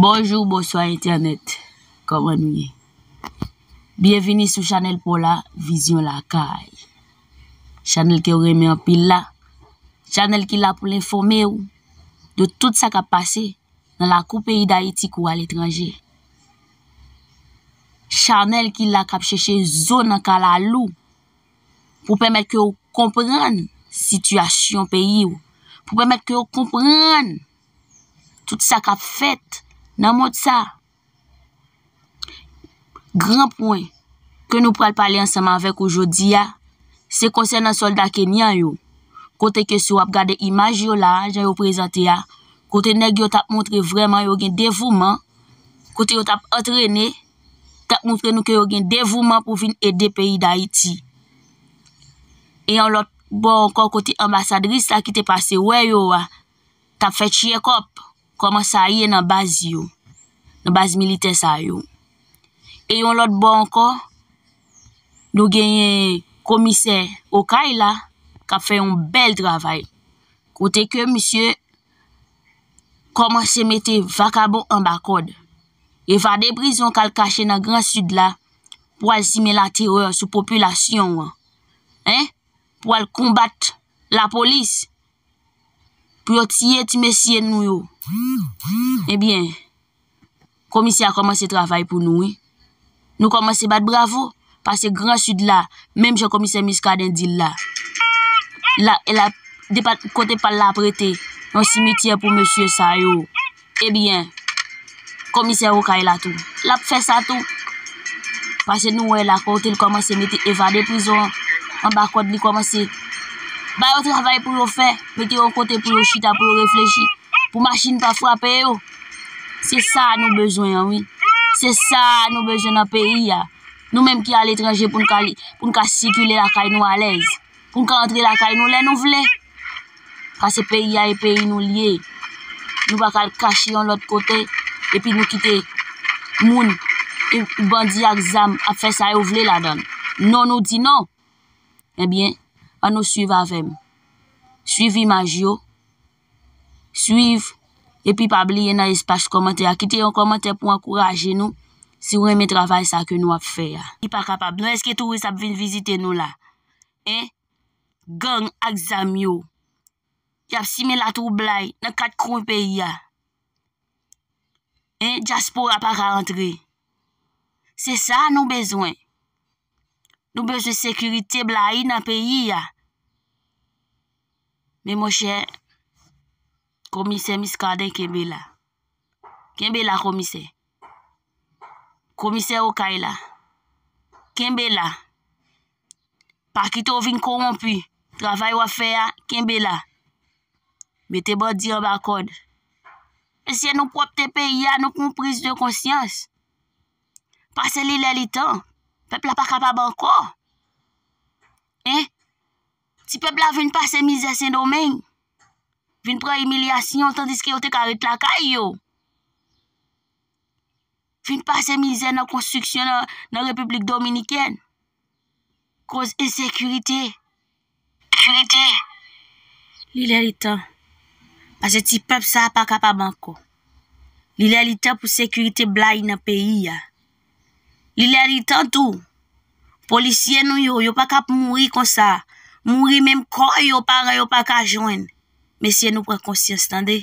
Bonjou bonswa entènèt kòman nou ye byenvini sou chanèl paw la vizyon lakay chanèl kew renmen anpil la chanèl ki la poul enfòmew de tout sa kap pase nan lakou peyi dayiti kou aletranje chanèl ki la kap chèche zo nan kalalou pou pèmèt kew konprann sityasyon peyiw pou pèmèt kew konprann Tout sa kap fèt nan mond sa. Gran pwen ke nou pral pale ansanm avèk ou jodi a, se konsènan sòlda Kenyan yo. Kote ke si wap gade imaj yo la, jan yo prezante a, kote nèg yo tap montre vreman yo gen devouman, kote yo tap antrene, tap montre nou ke yo gen devouman pou vin ede peyi Dayiti. E yon lòt bò ankò kote anbasadris la ki te pase wè yo a, tap fè tyekòp kòman sa ye nan baz yo, nan baz militè sa yo. E yon lòt bò ankò, nou genyen komisè Okay la kap fè yon bèl travay. Kote ke misye kòmanse mete vakabon anba kòd. Evade prizon kal kache nan gran sid la pou al simen laterè sou popilasyon an. Pou al konbat lapolis. pou yo tiye ti mesye nou yo. Ebyen, komisè a kòmanse travay pou nou wi. Nou kòmanse bat bravo, pase gran sud la, menm jan komisè Muscadin di l la. La, e la, depa kote pa l la ap rete, yon simityè pou mesye sa yo. Ebyen komisè okay la tou lap fè sa tou pase nou wè la kote li kòmanse mete evade prizon an anba kòd li kòmanse ba yo travay pou yo fè mete yo kote pou yo chita pou yo reflechi pou machin pa frape yo se sa nou bezwen an wi se sa nou bezwen nan peyi a nou menm ki aletranje pou n ka sikile lakay nou alèz. Pou n ka antre lakay nou lè nou vle. Pase peyi a e peyi nou l ye. Nou pa ka al kache yon lòt kote epi nou kite moun, bandi ak zam ap fè sa yo vle ladan l. Non nou di non! Ebyen, an nou suiv avè m. Suiv imaj yo, suiv epi pa bliye nan espas kòmantè a kite yon kòmantè pou ankouraje nou si w renmen travay sa ke nou ap fè a. Li pa kapab non eske touris ap vin vizite nou la. hein, gang ak zam yo, yap simen latwoublay nan 4 kwen peyi a, hein diaspora pa ka antre, se sa nou bezwen, nou bezwen sekirite blayi nan peyi a, men monchè komisè Muscadin kenbe la, kenbe la komisè, komisè okay la, kenbe la. Pa kite w vin kowonpi. Travay w ap fè a, kenbe la. Mete bandi anba kòd. Mesye, nou pwòpte peyi a, nou pran priz de konsyans. Pase li lè li tan. Pèp la pa kapab ankò. Hein? Ti pèp la vin pase mizè Sendomeng. Vin pran imilyasyon tandiske yo te ka ret lakay yo. fin pase mizè nan konstriksyon nan Repiblik Dominikèn koz ensekirite. Li lè li tan, pase ti pèp sa pa kapab ankò. Li lè li tan pou sekirite blayi nan peyi a. Li lè li tan tou, polisye nou yo, yo pa kap mouri konsa, mouri menm kò yo paran yo pa ka jwenn. Mesye nou pran konsyans tande.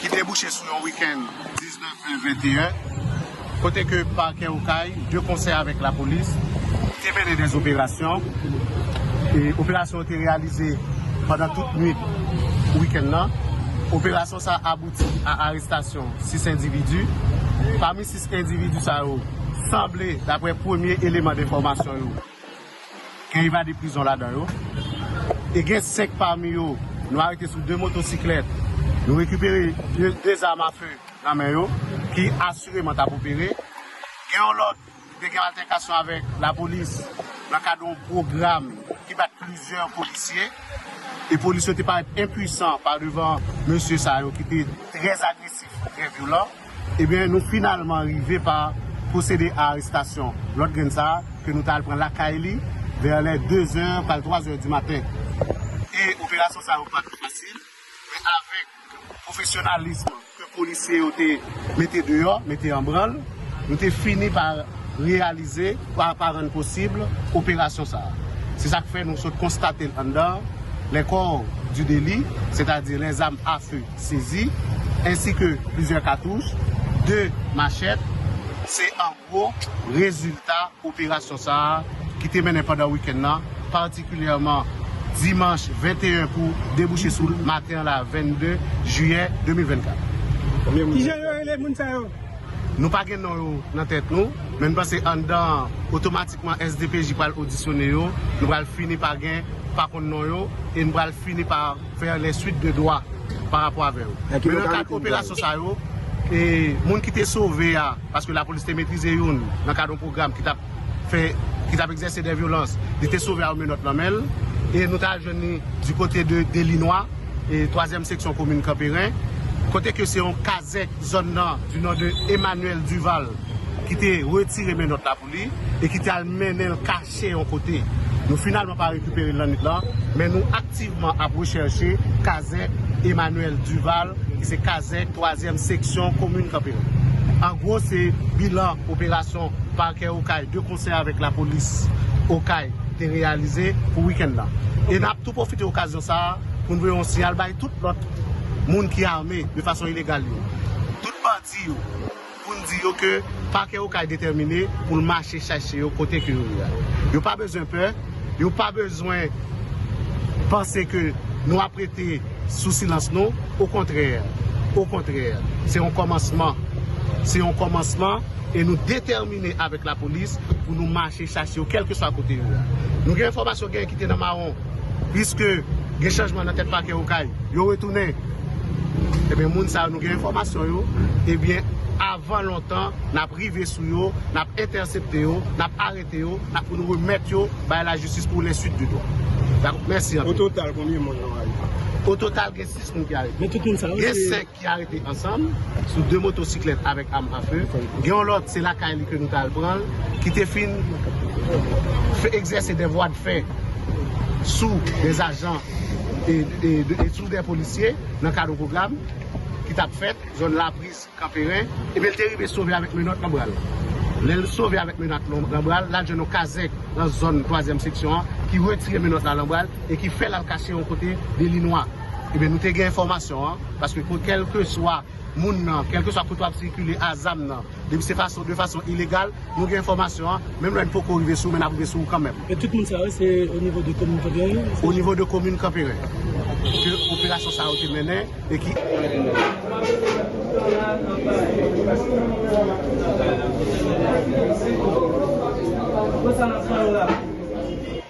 ki debouche sou yon wikenn 19 me 21, kote ke Pakè Okay, de konsè avèk lapolis, te mennen dè operasyon, e operasyon yo te reyalize pandan tout nwit wikenn nan. Operasyon sa a abouti a arestasyon 6 endividi. Pami 6 endividi sa yo, sanble, daprè premye eleman denfòmasyon yo, Gen evade prizon ladan yo e gen 5 pami yo nou arete sou 2 motosiklèt. Nou rekipere 2 zam a fe nan men yo ki asireman t ap opere. Gen yon lòt ki te gen altèkasyon avèk lapolis nan kad yon pwogram ki bat plizyè polisye e polis yo te parèt enpuisan pa devan mesye sa yo ki te trè agresif, trè vyolan. Ebyen nou finalman rive pa pwosede a arestasyon lòt grenn sa a ke nou ta al pran lakay li vè lè 2 zè pral 3 zè di maten. E operasyon sa yo pa t fasil men avèk pwofesyonalism ke polisye yo te mete deyò, mete an branl, nou te fini pa reyalize, pa rann posib operasyon sa a. Se sa k fè nou sot konstate l anndan lè kò di deli, sètadi lè zam afe. sezi, ensi ke plizyè katouch, 2 machèt. Se an gwo rezilta operasyon sa a ki te mennen pandan wikenn nan, patikilyèman dimanch 21 pou debouche sou maten an la 22 jiyè 2024. Ki jan yo rele moun sa yo? Nou pa gen non yo nan tèt nou, men nou panse anndan an, otomatikman SDPJ pral odisyone yo, nou pral fini pa gen, pa konn non yo, e nou pral fini pa. fè lè swit de dwa pa rapò avè yo men nan kad operasyon sa yo e moun ki te sove a paske la polis te metrize youn nan kad yon pwogram ki tap fè ki tap egzèse dè vyolans li te sove a yon menòt nan menl e nou ta al jwenn ni di kote de delinwa e twazyèm seksyon komin kanperen kote ke se yon kazèk zòn nan di non de Emmanuel Duval ki te retire menòt la. li e ki te al mennen l kache yon kote. Nou finalman pa rekipere l lannwit lan, men nou aktivman ap rechèche kazèk Emmanuel Duval ki se kazèk twazyèm seksyon komin Kanperen. An gwo se bilan operasyon Pakè Okay de konsè avèk lapolis Okay te reyalize pou wikenn nan. E n ap tou pwofite okazyon sa a pou n voye yon siyal bay tout lòt moun ki ame de fason ilegal yo, tout bandi yo, pou n di yo ke Pakè Okay detèmine pou l mache chache yo kote ke yo ye a. Yo pa bezwen pè, yo pa bezwen panse ke nou ap rete sou silans nou, okontrè, okontrè, se yon kòmansman, se yon kòmansman e nou detèmine avèk lapolis pou nou mache chache yo kèlkeswa kote yo ye a. Nou gen enfòmasyon genyen ki te nan mawon. Piske gen chanjman nan tèt pakè okay yo retounen ebyen moun sa yo nou gen enfòmasyon yo ebyen avan lontan nap rive sou yo nap entèsepte yo nap arete yo nap pou nou remèt yo bay la jistis pou le swit di dwa dakou mèsi anpil. Ototal konbyen moun yo arete? Ototal gen 6 moun ki arete. Gen 5. ki arete ansanm sou 2 motosiklèt avèk am a few, gen yon lòt se lakay li ke nou tal pran l, ki te fin fè egzèse dè vwa de fè sou dè ajan e sou dè polisye nan kad yon pwogram ki tap fèt zòn Lapris, Kanperen, ebyen li te rive sove avèk menòt nan bra l. Lè l sove avèk menòt nan bra l, lal jwenn yon kazèk nan zòn twazyèm seksyon an ki retire menòt la nan bra l e ki fè l al kache yon kote de linwa. Ebyen nou te gen enfòmasyon an, paske pou kèlkeswa moun nan, kèlkeswa kote wap sikile a zam nan, depi se fason de fason ilegal, nou gen enfòmasyon an, menm lè n poko rive sou ou men nap rive sou ou kanmèm. E tout moun sa yo se o nivo de komin Kanperen yo? O nivo de komin Kanperen ke operasyon sa yo te mennen e ki.